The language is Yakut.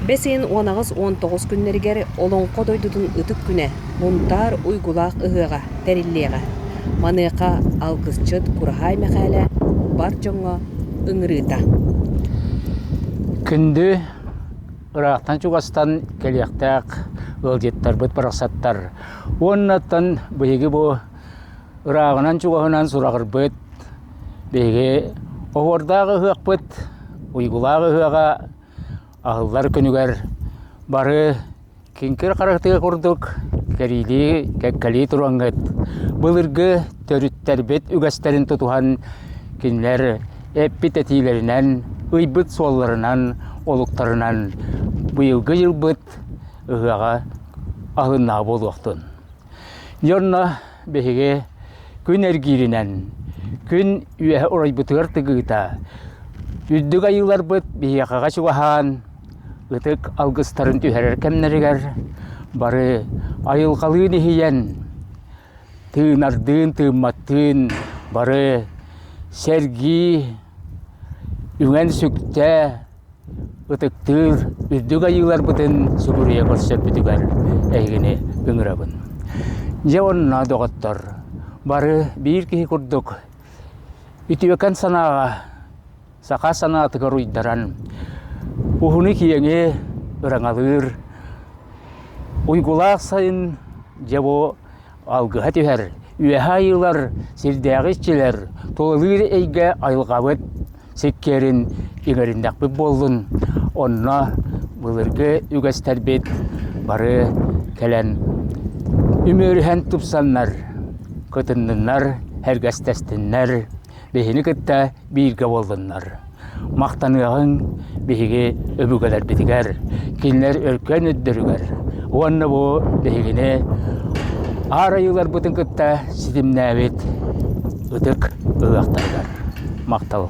Бэс ыйын уон аҕыс уон тоҕус күннэригэр Олоҥхо дойдутун ытык күнэ Мунтаар Уйгулаах ыһыаҕа тэриллиэҕэ. Маныаха алгысчыт Кураһаай Мэхээлэ бар дьоҥҥо ыҥырыыта. Күндү ыраахтан чугастан кэлиэхтээх ыалдьыттарбыт барахсаттар уоннаттан биһиги бу ырааҕынан-чугаһынан сураҕырбыт биһиги оһуордаах ыһыахпыт Уйгулаах ыһыаҕа Аһыллар күнүгэр бары киҥкир харахтыыр курдук кэриилии, кэккэлии туруаҥҥыт. Былыргы төрүттэрбит үгэстэрин тутуһан кинилэр эппит этиилэринэн, ыйбыт суолларынан, олуктарынан быйылгы дьылбыт ыһыаҕа аһылыннаҕа буолуохтун. Дьэ онно биһиги күн эргииринэн, күн үөһэ урайбытыгар тыгыыта, үрдүк айыыларбыт биһиэхэҕэ чугаһаан, ытык алгыстарын түһэрэр кэмнэригэр бары айылҕалыын иһийэн, тыынардыын, тыымматтыын бары сэргии, үҥэн-сүктэ, ытыктыыр үрдүк айыыларбытын субуруйа көрсөрбүтүгэр эһигини ыҥырабын. Дьэ онно, доҕоттор, бары биир киһи курдук үтүөкэн санааҕа, саха санаатыгар уйдаран, уһуну-киэҥи ыраҥалыыр уйгулаах сайын дьэ бу Алгыһа түһэр, Үөһэ Айыылар сирдээҕи иччилэр тулалыыр эйгэ айылҕабыт сиккиэрин иҥэриннэхпит буоллун, онно былыргы үгэстэрбит бары кэлэн үмүөрүһэн тупсаннар, кытынныннар, сэргэстэстиннэр, биһини кытта бииргэ буоллуннар. Махтаныаҕыҥ биһиги өбүгэлэрбитигэр, кинилэр өркөн өттөрүгэр уонна бу биһигини аар айыыларбытын кытта ситимнээбит ытык ыһыахтарыгар махтал.